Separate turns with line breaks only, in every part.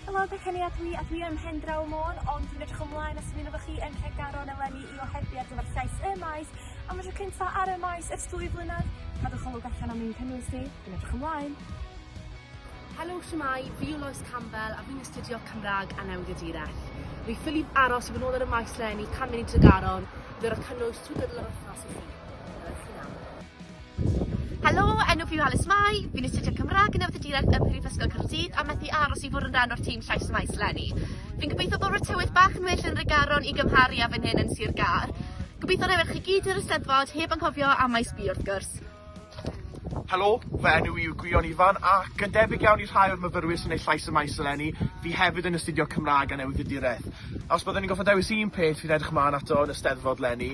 Helo dwi Kenia dwi a dwi ym Mhendraw Môn ond dwi'n edrych ymlaen at ymuno efo chi yn Nhregaron eleni i ohebu ar gyfer llais y Maes am y tro cynta ar y Maes ers dwy flynedd. Cadwch olwg allan am ein cynnwys ni, dwi'n edrych ymlaen!
Helo, shwmae, fi yw Lois Campbell a fi'n astudio Cymraeg a Newyddiaduraeth. Fi ffili aros i fod yn ôl ar y Maes leni, cam mynd i Tregaron i ddod â cynnwys trwy gydol yr wythnos i chi. Helo i chi nawr.
Helo, enw fi yw Alys Mai, fi'n astudio Cymrâg yn Nefyddiaduraeth ym Mhrifysgol Caerdydd a methu aros i fwrw yn ran o'r tîm Llais y Maes 'leni. Fi'n gobeithio bod fy tywydd bach yn well yn Nhregaron i gymharu â fan hyn yn Sir Gâr. Gobeithio na ewch chi gyd i'r Eisteddfod heb anghofio am Maes B wrth gwrs.
Helo, fy enw i yw Gwion Ifan ac yn debyg iawn i rhai o'r myfyrwyr sy'n neud Llais y Maes eleni, fi hefyd yn astudio Cymrâg a Newyddiaduraeth. Os byddwn i'n gorfod dewis un peth fi'n edrych mlan ato yn y Steddfod 'leni,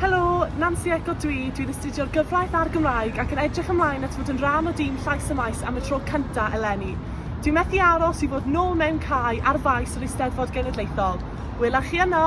Helo, Nansi Eco dw i, dwi'n astudio'r gyfraith a'r Gymraeg ac yn edrych ymlaen at fod yn rhan o dîm Llais y Maes am y tro cyntaf eleni. Dwi'n methu aros i fod nôl mewn cae ar faes yr Eisteddfod Genedlaethol. Wela chi yno!